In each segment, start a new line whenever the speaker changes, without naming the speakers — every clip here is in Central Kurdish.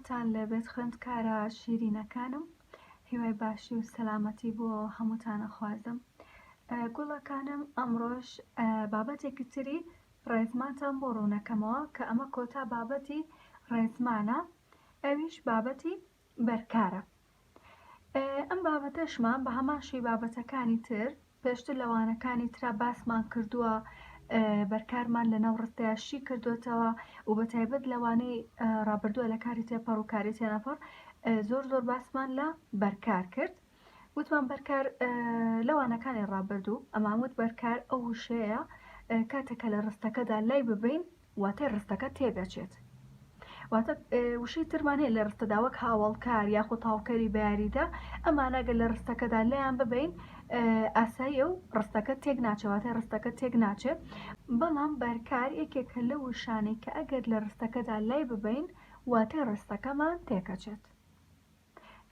سلاوتان لێبێت خوێندکارە شیرینەکانم هیوای باشی و سەلامەتی بۆ هەمووتانە خوازم گوڵەکانم ئەمڕۆژ بابەتێکی تری ڕێزمانتان بۆ ڕوونەکەمەوە کە ئەمە کۆتا بابەتی ڕێزمانە ئەویش بابەتی بەرکارە ئەم بابەتەشمان بە هەمان شوی بابەتەکانی تر پێشتر لە وانەکانی ترا باسمان کردووە بەرکارمان لەناو ڕستەیە شی کردوێتەوە و بە تایبەت لە وانەی ڕابردووە لە کاری تێپەڕ و کاری تێنەپەڕ زۆر زۆر باسمان لە بەرکار کرد وتمان بەرکار لە وانەکانی ڕابردوو ئەماموت بەرکار ئەو وشەیە کاتێکە لە ڕستەکەدا لای ببین واتای ڕستەکە تێدەچێت. واتە وشەی ترمان هەیە لە ڕستەدا وەک هاوڵکار یاخود تاوکەری بەیاریدە ئەمانەگە لە ڕستەکەدا لەیان ببین ئاساییە و ڕستەکە تێک ناچەواتە ڕستەکە تێک ناچێت بەڵام بەرکار یەکێکە لە وشانەی کە ئەگەر لە ڕستەکەدا لای ببین واتای ڕستەکەمان تێکەچێت.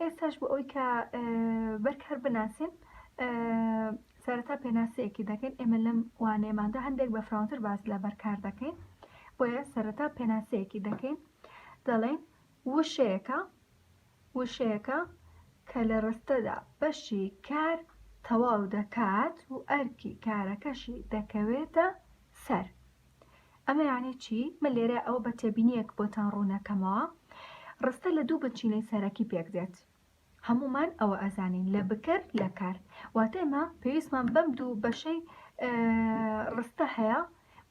ئێستاش بۆ ئەوی کە بەرکار بناسین سەرەتا پێناسەیەکی دەکەین ئێمە لەم وانەیەماندا هەندێک بە فراونتر باز لە بەرکار دەکەین بۆیە سەرەتا پێناسەیەکی دەکەین دەڵێن وشەیەەکە وشەیەەکە کە لە ڕستەدا بەشی کار تەواو دەکات و ئەرکی کارەکەشی دەکەوێتە سەر ئەمە یانی چی؟ من لێرە ئەوە بە تێبینیەک بۆتان ڕوونەکەمەوە ڕستە لە دوو بنچینەی سەرەکی پێک دێت هەمومان ئەوە ئەزانین لە بکەر لە کار واتە ئێمە پێویستمان بەم دوو بەشەی ڕستە هەیە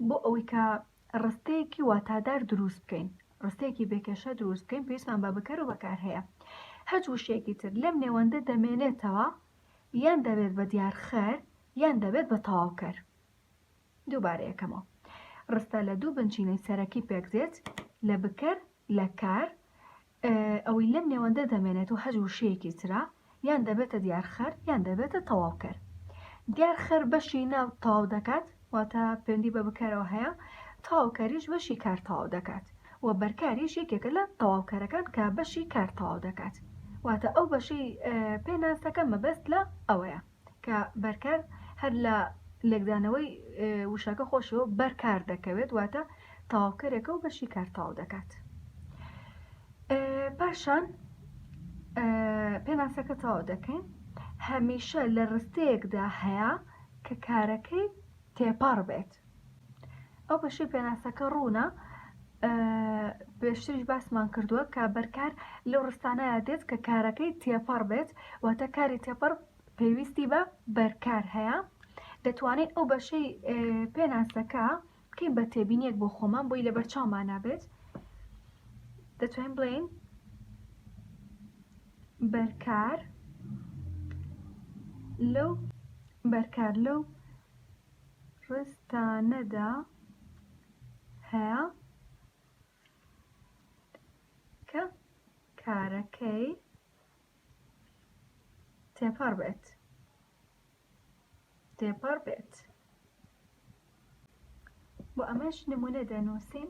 بۆ ئەوەی کە ڕستەیەکی واتادار دروست بکەین ڕستێکی بێکێشە دروست بکەین پێویستمان بە بکەر و بەکار هەیە هەج وشێکی تر لەم نێوەندە دەمێنێتەوە یان دەبێت بە دیارخەر یان دەبێت بە تەواوکەر دووبارە یەکەمەوە ڕستە لە دوو بنچینەی سەرەکی پێکدێت لە بکەر لە کار ئەوەی لەم نێوەندە دەمێنێت و هەج وشەیەکی ترا یان دەبێتە دیارخەر یان دەبێتە تەواوکەر دیار خەر بەشی ناو تاو دەکات واتە پێندی بە بکەرەوە هەیە تاوکەریش بەشی کار تاو دەکات و بەرکاریش یەکێکە لە تەواوکەرەکان کە بەشی کار تاو دەکات واتە ئەو بەشەی پێناس دەکەم مەبەست لە ئەوەیە کە بەرکار هەر لە لێکدانەوەی وشەکە خۆشەوە بەرکار دەکەوێت واتە تەواوکەرێکە و بەشی کار تەواو دەکات پاشان پێناسەکە تەواو دەکەین هەمیشە لە ڕستەیەکدا هەیە کە کارەکەی تێپەڕ بێت ئەو بەشەی پێناسەکە ڕوونە پێشتریش باسمان کردووە کە بەرکار لەو ڕستانەیە دێت کە کارەکەی تێپەڕ بێت واتە کاری تێپەڕ پێویستی بە بەرکار هەیە دەتوانێت ئەو بەشەی پێناسەکە بکەین بە تێبینیەک بۆ خۆمان بۆی لە بەرچاومان نابێت دەتوانین بڵێین بەرکار لەو بەرکار لەو ڕستانەدا هەیە کە کارەکەی تێپەڕ بێت تێپەڕ بێت بۆ ئەمەش نمونە دەنووسین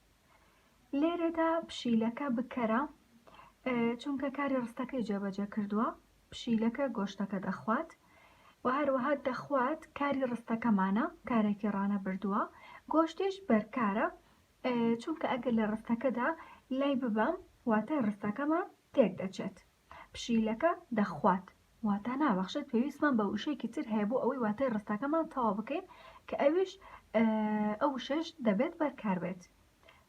لێرەدا پشیلەکە بکەرە چونکە کاری ڕستەکەی جێبەجێ کردووە پشیلەکە گۆشتەکە دەخوات و هەروەها دەخوات کاری ڕستەکەمانە کارێکی ڕانە بردووە گۆشتیش بەرکارە چونکە ئەگەر لە ڕستەکەدا لای ببەم واتە ڕستەکەمان تێک دەچێت پشیلەکە دەخوات واتا نابەخشێت پێویستمان بە وشەیەکی تر هەیە بۆ ئەوەی واتای ڕستەکەمان تەوا بکەین کە ئەویش ئەو وشەش دەبێت بەرکار بێت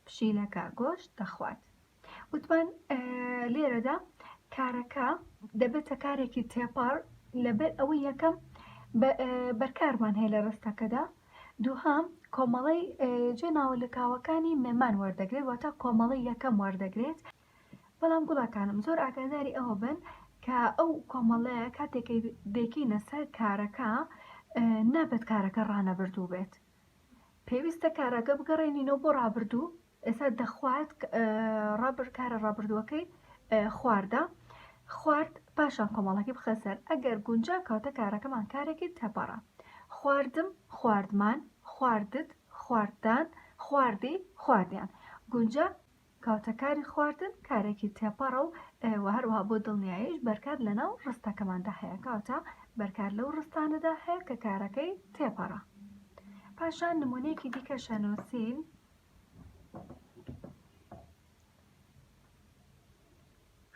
پشیلەکە گۆشت دەخوات وتمان لێرەدا کارەکە دەبێتە کارێکی تێپەڕ لەبەر ئەوەی یەکەم بەرکارمان هەیە لە ڕستەکەدا دووهام کۆمەڵی جێ ناوە لەکاوەکانی مێمان وەردەگرێت واتە کۆمەڵی یەکەم وەردەگرێت بەڵام گوڵەکانم زۆر ئاگاداری ئەوە بن کە ئەو کۆمەڵەیە کاتێک دەکەینە سەر کارەکە نابێت کارەکە ڕانەبردوو بێت پێویستە کارەکە بگەڕێنینەوە بۆ ڕابردوو ئێستا دەخوارد ڕابر کارە ڕابردووەکەی خواردە خوارد پاشان کۆمەڵەکە بخەسەر ئەگەر گونجا کاتە کارەکەمان کارێکی تەپەڕە خواردم خواردمان خواردت خواردان خواردی خواردیان گونجا کەواتە کاری خواردن کارێکی تێپەڕە و وە هەروەها بۆ دڵنیاییش بەرکار لەناو ڕستەکەماندا هەیە کەواتە بەرکار لەو ڕستانەدا هەیە کە کارەکەی تێپەڕە پاشان نمونەیەکی دیکە شەنووسین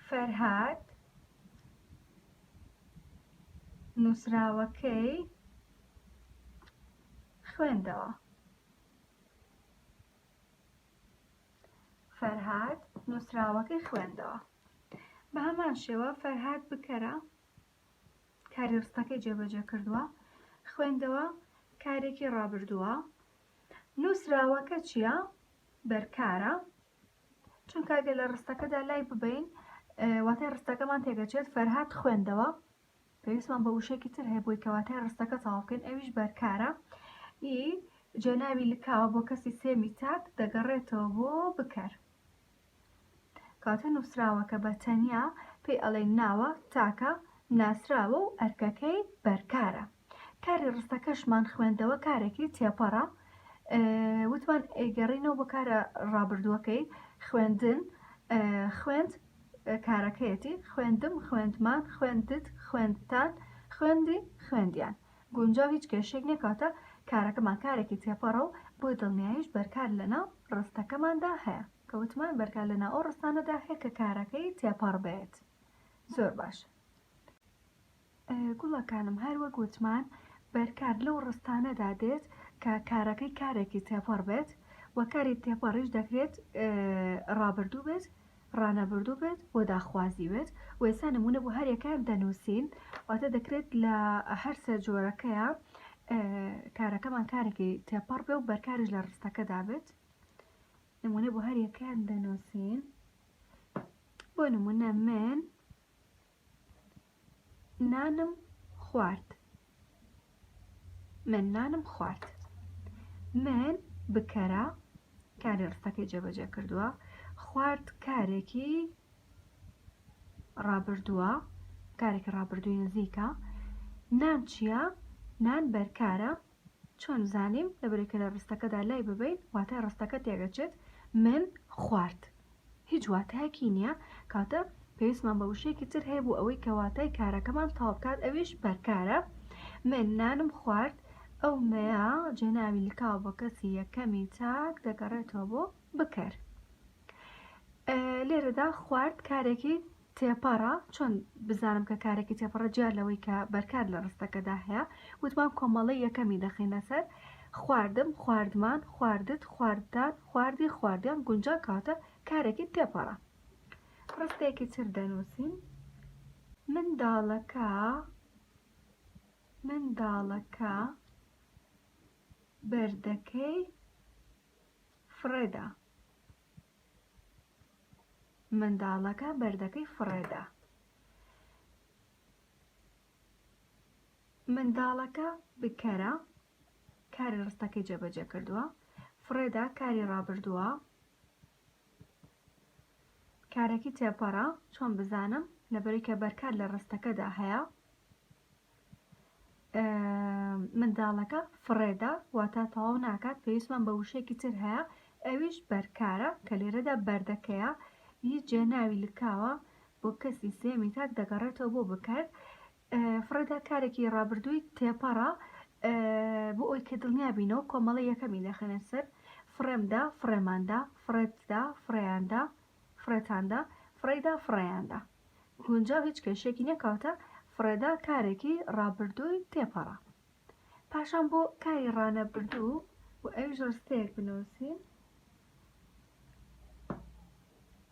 فەرهاد نووسراوەکەی خوێندەوە فەرهاد نووسراوەکەی خوێندەوە بە هەمان شێوە فەرهاد بکەرە کاری ڕستەکەی جێبەجێ کردووە خوێندەوە کارێکی ڕابردووە نووسراوەکە چییە بەرکارە چونکە گە لە ڕستەکەدا لای ببین واتای ڕستەکەمان تێگەچێت فەرهاد خوێندەوە پێویستمان بە وشەیەکی تر هەیە بۆی کەواتای ڕستەکە تەواو بکەین ئەویش بەرکارە ئی جێناوی لکاوە بۆ کەسی سێمی تاک دەگەڕێتەوە بۆ بکەر کاتە نووسراوەکە بە تەنیا پێی ئەڵێن ناوە تاکە ناسراوە و ئەرکەکەی بەرکارە کاری ڕستەکەشمان خوێندەوە کارێکی تێپەڕە وتمان ئەیگەڕینەوە بۆ کارە ڕابردووەکەی خوێندن خوێند کارەکەیەتی، خوێندم، خوێندمان، خوێندت، خوێندتان، خوێندی، خوێندیان. گونجاو هیچ کێشەیەک نییە، کەواتە کارەکەمان کارێکی تێپەڕە و بۆ دڵنیاییش بەرکار لەناو ڕستەکەماندا هەیە. کە وتمان بەرکار لەناو ئەو ڕستانەدا هەیە کە کارەکەی تێپەڕ بێت. زۆر باشە. گوڵەکانم هەر وەک وتمان بەرکار لەو ڕستانەدا دێت کە کارەکەی کارێکی تێپەڕ بێت و کاری تێپەڕیش دەکرێت ڕابردوو بێت ڕانەبردوو بێت بۆ داخوازی بێت و ئێستا نمونە بۆ هەرێکیان دەنووسین واتە دەکرێت لە هەرسە جۆرەکەیە کارەکەمان کارێکی تێپەڕ بێ و بەرکاریش لە ڕستەکەدا بێت نمونە بۆ هەرێکیان دەنووسین بۆ نمونە من نانم خوارد من نانم خوارد من بکەرە کاری ڕستەکەی جێبەجێ کردووە خوارد کارێکی ڕابردووە کارێکی ڕابردووی نزیکە نان چییە نان بەرکارە چۆن زانیم لەبەرەی کە لە ڕستەکەدا لای ببەین واتای ڕستەکە تێگەچێت من خوارد هیچ واتایەکی نییە کاتە پێویستمان بە وشەیەکی تر هەیە بۆ ئەوەی کە واتای کارەکەمان تەواو بکات ئەویش بەرکارە من نانم خوارد ئەو مەیە جێناوی لکاو بە کەسی یەکەمی تاک دەگەڕێتەوە بۆ بکەر لێرەدا خوارد کارێکی تێپەڕە، چۆن بزانم کە کارێکی تێپەڕە جیا لەوەی کە بەرکار لە ڕستەکەدا هەیە؟ وتمان کۆمەڵەی یەکەمی دەخەینە سەر، خواردم، خواردمان، خواردت، خواردتان، خواردی، خواردیان، گونجان کەواتە کارێکی تێپەڕە. ڕستەیەکی تر دەنووسین، منداڵەکە، منداڵەکە بەردەکەی فڕێدا. منداڵەکە بەردەکەی فڕێدا. منداڵەکە بکەرە کاری ڕستەکەی جێبەجێ کردووە فڕێدا کاری ڕابردووە کارەکی تێپەڕە چۆن بزانم لەبەرەی کە بەرکار لە ڕستەکەدا هەیە منداڵەکە فڕێدا واتا تەواو ناکات پێویستمان بە وشەیەکی تر هەیە ئەویش بەرکارە کە لێرەدا بەردەکەیە ی جێناوی لکاوە بۆ کەسی سێمی تاک دەگەڕێتەوە بۆ بکەر فڕێدا کارێکی ڕابردووی تێپەڕە بۆ ئەوی کە دڵنیا بینەوە کۆمەڵە یەکەمی دەخەنە سەر فڕێمدا فڕێماندا فڕێتدا فڕێیاندا فڕێتاندا، فڕێیدا، فڕێیاندا. گونجاو هیچ کێشەیەکی نییە کەواتە فڕێدا کارێکی ڕابردووی تێپەڕە. پاشان بۆ کاری ڕانەبردوو و ئەویش ڕستەیەک بنووسین.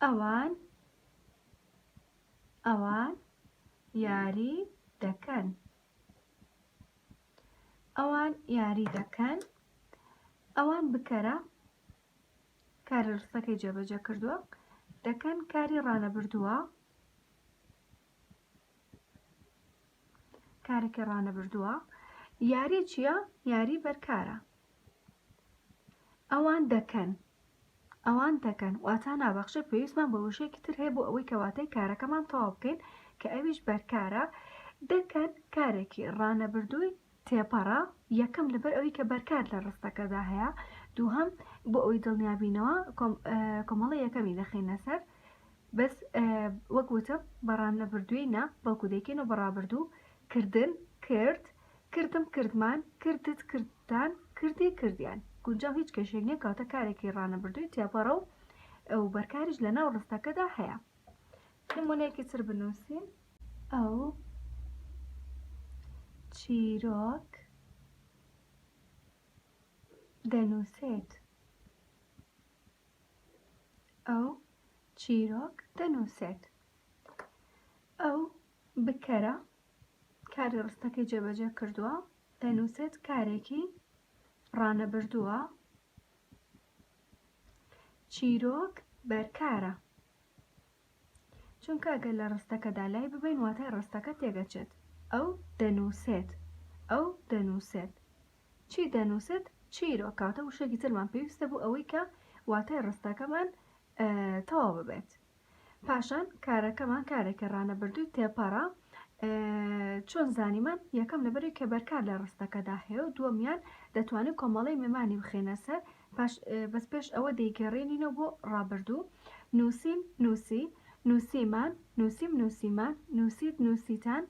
ئەوان ئەوان یاری دەکەن ئەوان یاری دەکەن ئەوان بکەرە کاری ڕستەکەی جێبەجێ کردووە دەکەن کاری ڕانەبردووە کارێکی ڕانەبردووە یاری چییە یاری بەرکارە ئەوان دەکەن ئەوان دەکەن واتا نابەخشە پێویستمان بە وشێکی تر هەیە بۆ ئەوەی کەواتەی کارەکەمان تەواو بکەین کە ئەویش بەرکارە دەکەن کارێکی ڕانەبردووی تێپەڕە، یەکەم لەبەر ئەوەی کە بەرکات لە ڕستەکەدا هەیە، دووهەم بۆ ئەوەی دڵنیا بینەوە کۆمەڵە یەکەمی دەخەینە سەر بەس وەک وتم بە ڕانەبردووی نا بەڵکو دەیکەینەوە بە ڕابردوو کردن کرد کردم کردمان کردت کردتان کردی کردیان گونجاو هیچ کێشێک نییە کاتە کارێکی ڕانەبردووی تێپەڕە و ئەو بەرکاریش لە ناو ڕستەکەدا هەیە نمونەیەکی تر بنووسین ئەو چیرۆک دەنووسێت. ئەو چیرۆک دەنووسێت. ئەو بکەرە کاری ڕستەکەی جێبەجێ کردووە دەنووسێت کارێکی ڕانەبردووە چیرۆک بەرکارە چونکە گەر لە ڕستەکەدا لای ببەین واتای ڕستەکە تێگەچێت ئەو دەنووسێت ئەو دەنووسێت چی دەنووسێت چیرۆ کاتە وشێکی ترمان پێویستە بوو ئەوەی کە واتای ڕستەکەمان تەواو ببێت پاشان کارەکەمان کارێکە ڕانەبردووی تێپەڕە چۆن زانیمان یەکەم لەبەری کە بەرکار لە ڕستەکەدا هەیە و دووەمیان دەتوانێت کۆمەڵی مێمانی بخێنە سەر باش بەس پێش ئەوە دەیگەڕێنینەوە بۆ ڕابردوو، نووسیم، نووسی، نووسیمان، نووسیم، نووسیمان، نووسیت، نووسیتان،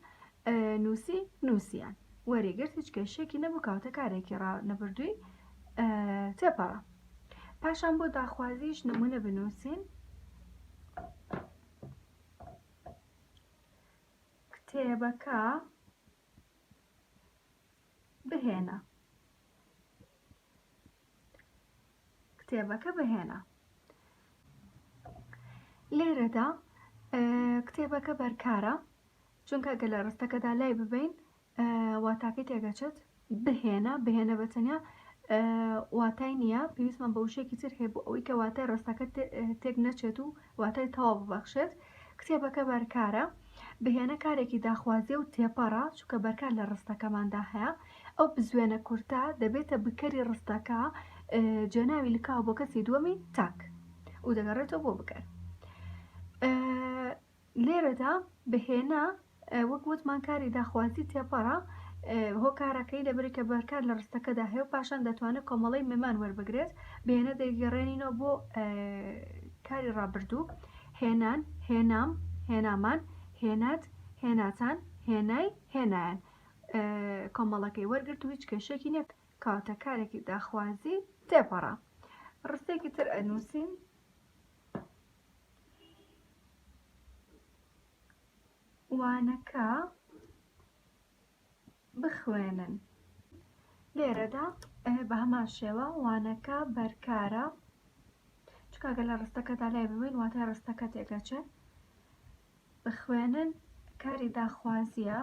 نووسی، نووسیان. وەری گرت هیچ کێشەیەکی نەبوو کەواتە کارێکی ڕانەبردووی تێپەڕا. پاشان بۆ داخوازیش نمونە بنووسین. کتێبەکە بهێنە. کتێبەکە بهێنە. لێرەدا کتێبەکە بەرکارە چونکە گە لە ڕستەکەدا لای ببین واتاکەی تێگەچێت بهێنە بهێنە بە تەنیا واتای نییە پێویستمان بە وشێکی تر هەیە بۆ ئەوەی کە واتای ڕستەکە تێک نەچێت و واتای تەواو ببەخشێت، کتێبەکە بەرکارە، بهێنە کارێکی داخوازییە و تێپەڕە، چونکە بەرکار لە ڕستەکەماندا هەیە، ئەو بزوێنە کورتە دەبێتە بکەری ڕستەکە، جێناوی لکاوە بۆ کەسی دووەمی تاک و دەگەڕێتەوە بۆ بکەر. لێرەدا بهێنە وەک وتمان کاری داخوازی تێپەڕە هۆکارەکەی لەبری کە بەرکار لە ڕستەکەدا هەیە و پاشان دەتوانێت کۆمەڵی مەمان وەربگرێت بێنە دەیگەڕێنینەوە بۆ کاری ڕابردوو هێنان هێنام هێنامان هێنات هێناتان هێنای هێنایان کۆمەڵەکەی وەرگرت و هیچ کێشێکی نیە کاتە کارێکی داخوازی تێپەڕە ڕستێکی تر ئەنووسین وانەکە بخوێنن لێرەدا بە هەمان شێوە وانەکە بەرکارە چکگە لە ڕستەکەدا لای ببین واتای ڕستەکە تێگەچێت بخوێنن کاری داخوازیە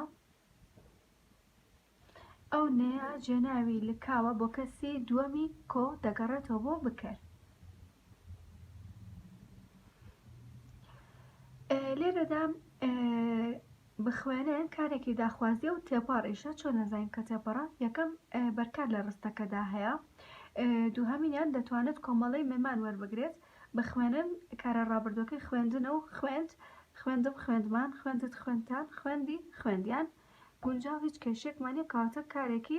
ئەو نەیە جێناوی لکاوە بۆ کەسی دووەمی کۆ دەگەڕێتەوە بۆ بکەر لێرەدا بخوێنێن کارێکی داخوازیە و تێپەڕیشە چۆن نەزانین کە تێپەڕە یەکەم بەرکار لە ڕستەکەدا هەیە دووهمینیان دەتوانێت کۆمەڵی مەمان وەربگرێت بخوێنن کارە ڕابردوەکەی خوێندنە و خوێند خوێندم خوێندمان خوێندت خوێندتان خوێندی خوێندیان گونجاو هیچ کێشەیەکمان نیە کەواتە کارێکی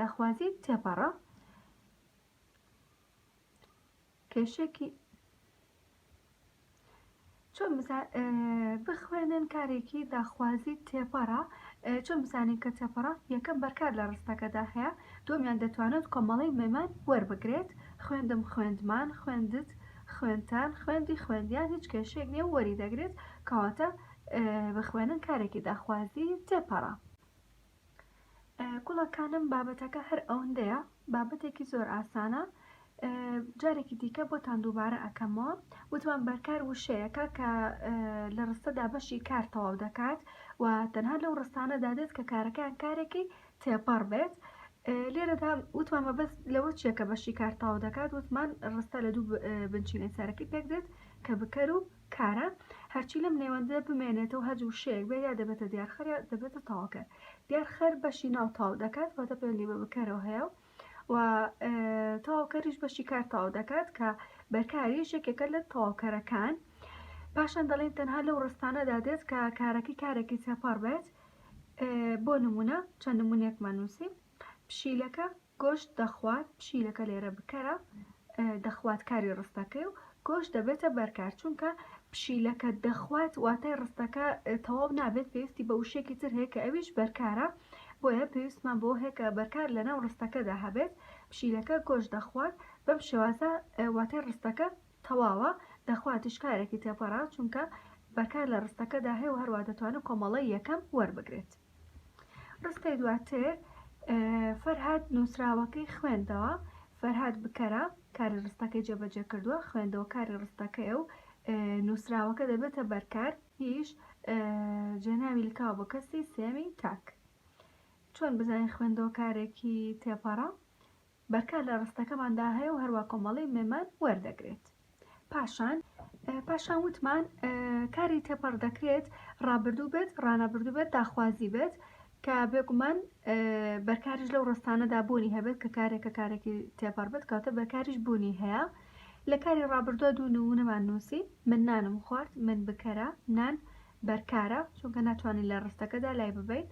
داخوازی تێپەڕە کێشێکی چۆن بخوێنن کارێکی داخوازی تێپەڕە چۆن بزانین کە تێپەڕە یەکەم بەرکار لە ڕستەکەدا هەیە دومیان دەتوانێت کۆمەڵی مەمان وەربگرێت خوێندم خوێندمان خوێندت خوێنتان خوێندی خوێندیان هیچ کێشێک نیە وەری دەگرێت کەواتە بە خوێنن کارێکی داخوازی تێپەڕە. گوڵەکانم بابەتەکە هەر ئەوەندەیە بابەتێکی زۆر ئاسانە جارێکی دیکە بۆتان دووبارە ئەکەمەوە وتمان بەرکار وشەیەەکە کە لە ڕستەدا بەشی کار تەواو دەکات و تەنها لەو ڕستانەدا دێت کە کارەکان کارێکی تێپەڕ بێت لێرەدا وتمان مەبەست لەوە چیە کە بەشی کار تاو دەکات وتمان ڕستە لە دوو بنچینەی سەرەکی پێک دێت کە بکەر و کارە، هەرچی لەم نێوەندەدا بمێنێتەوە هەرج وشەیەک بێت یا دەبێتە دیارخەر یا دەبێتە تەواوکەر، دیارخەر بەشی ناو تەواو دەکات واتە پەیوەندی بە بکەرەوە هەیە و و تەواوکەریش بەشی کار تەواو دەکات کە بەرکاریش یەکێکە لە تەواوکەرەکان پاشان دەڵێن تەنها لەو ڕستانەدا دێت کە کارەکەی کارێکی سێپەڕ بێت بۆ نمونە چەند نمونەیەکمان نووسین پشیلەکە گۆشت دەخوات پشیلەکە لێرە بکەرە دەخوات کاری ڕستەکەی و گۆشت دەبێتە بەرکار چونکە پشیلەکە دەخوات واتای ڕستەکە تەواو نابێت پێویستی بە وشێکی تر هەیە کە ئەویش بەرکارە بۆیە پێویستمان بۆ هێکە بەرکار لە ناو ڕستەکەدا هەبێت پشیلەکە گۆشت دەخوات بەم شێوازە واتای ڕستەکە تەواوە دەخواتیش کارێکی تێپەڕا چونکە بەرکار لە ڕستەکەدا هەیە و هەروە دەتوانێت کۆمەڵی یەکەم وەربگرێت ڕستەی دواتر فەرهاد نووسراوەکەی خوێندەوە فەرهاد بکەرە کاری ڕستەکەی جێبەجێ کردووە خوێندەوە کاری ڕستەکەی و نووسراوەکە دەبێتە بەرکار هیچ جێناوی لکاو بە کەسی سێمی تاک چۆن بزانین خوێندەوە کارێکی تێپەڕە بەرکار لە ڕستەکەماندا هەیە و هەروە کۆمەڵەی مێمان وەردەگرێت پاشان پاشان وتمان کاری تێپەڕ دەکرێت ڕابردوو بێت ڕانەبردوو بێت داخوازی بێت کە بێگومان بەرکاریش لەو ڕستانەدا بوونی هەبێت کە کارێکە کارێکی تێپەڕ بێت کاتە بەرکاریش بوونی هەیە لە کاری ڕابردووە دوو نمونەمان نووسی من نانم خوارد من بکەرە نان بەرکارە چونکە ناتوانی لە ڕستەکەدا لای ببەین،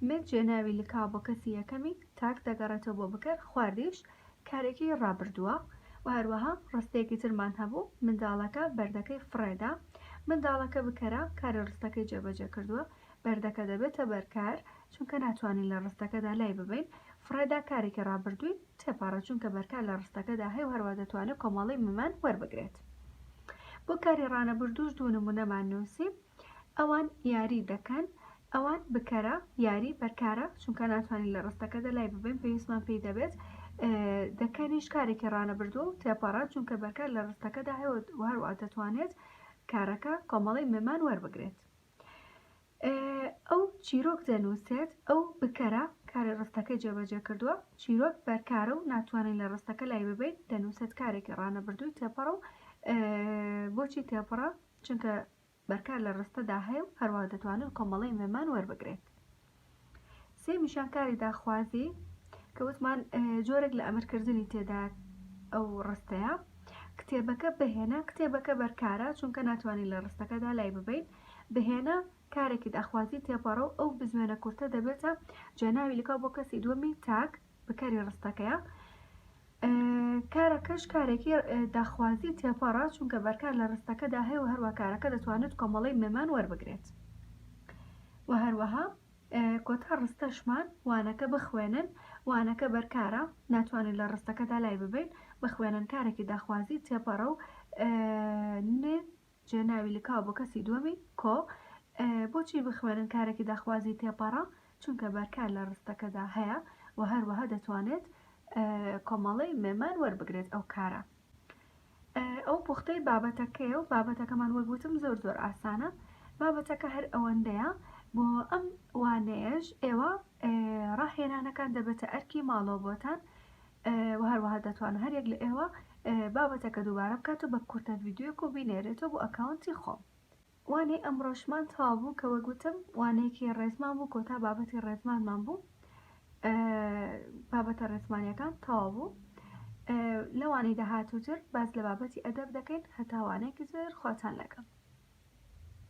من جێناوی لکاو بۆ کەسی یەکەمی تاک دەگەڕێتەوە بۆ بکەر، خواردیش کارێکی ڕابردووە و هەروەها ڕستەیەکی ترمان هەبوو، منداڵەکە بەردەکەی فڕێدا، منداڵەکە بکەرە کاری ڕستەکەی جێبەجێ کردووە، بەردەکە دەبێتە بەرکار چونکە ناتوانین لە ڕستەکەدا لای ببەین، فڕێدا کارێکی ڕابردووی. تێپەڕێت چونکە بەرکار لە ڕستەکەدا هەیە و هەروا دەتوانێت کۆمەڵەی ممان وەربگرێت بۆ کاری ڕانەبردووش دوو نمونەمان نووسی ئەوان یاری دەکەن ئەوان بکەرە یاری بەرکارە چونکە ناتوانین لە ڕستەکەدا لای ببین پێویستمان پێی دەبێت دەکەنیش کارێکی ڕانەبردوو و تێپەڕە چونکە بەرکار لە ڕستەکەدا هەیە هەروە دەتوانێت کارەکە کۆمەڵی ممان وەربگرێت ئەو چیرۆک دەنووسێت، ئەو بکەرە کاری ڕستەکەی جێبەجێ کردووە، چیرۆک بەرکارە و ناتوانین لە ڕستەکە لای ببەین، دەنووسێت کارێکی ڕانەبردووی تێپەڕە و بۆچی تێپەڕە چونکە بەرکار لە ڕستەدا هەیە و هەروەها دەتوانێت کۆمەڵەی مێمان وەربگرێت. سێمیشان کاری داخوازی کە وتمان جۆرێک لە ئەمرکردنی تێدا ئەو ڕستەیە کتێبەکە بهێنە کتێبەکە بەرکارە چونکە ناتوانین لە ڕستەکەدا لای ببین بهێنە کارێکی داخوازی تێپەڕە و ئەو بزوێنە کورتە دەبێتە جێناوی لکاو بۆ کەسی دووەمی تاک بکەری ڕستەکەیە کارەکەش کارێکی داخوازی تێپەڕە چونکە بەرکار لە ڕستەکەدا هەیە و هەروە کارەکە دەتوانێت کۆمەڵی مێمان وەربگرێت و هەروەها کۆتا ڕستەشمان وانەکە بخوێنن وانەکە بەرکارە ناتوانین لە ڕستەکەدا لای ببین بخوێنن کارێکی داخوازی تێپەڕە و جا ناوی لکاو بۆ کەسی دووەمی کۆ بۆچی بخوێنن کارێکی داخوازی تێپەڕە چونکە بەرکار لە ڕستەکەدا هەیە و هەروەها دەتوانێت کۆمەڵەی مێمان وەربگرێت ئەو کارە ئەو پوختەی بابەتەکەی و بابەتەکەمان وەک وتم زۆر زۆر ئاسانە بابەتەکە هەر ئەوەندەیە بۆ ئەم وانەیەش ئێوە ڕاهێنانەکان دەبێتە ئەرکی ماڵەوە بۆتان وە هەروەها دەتوانم هەر یەک لە ئێوە بابەتەکە دووبارە بکات و بە کورتە ڤیدیۆک و بینێرێتەوە بۆ ئەکاونتی خۆم وانەی ئەمڕۆشمان تەوا بوو کە وەگوتم وانەیەکی ڕێزمان بوو کۆتا بابەتی ڕێزمانمان بوو بابەتە ڕێزمانیەکان تەوا بوو لەوانەی داهاتووتر باز لە بابەتی ئەدەب دەکەین هەتاوانێکی تر خواتان لەگەڵ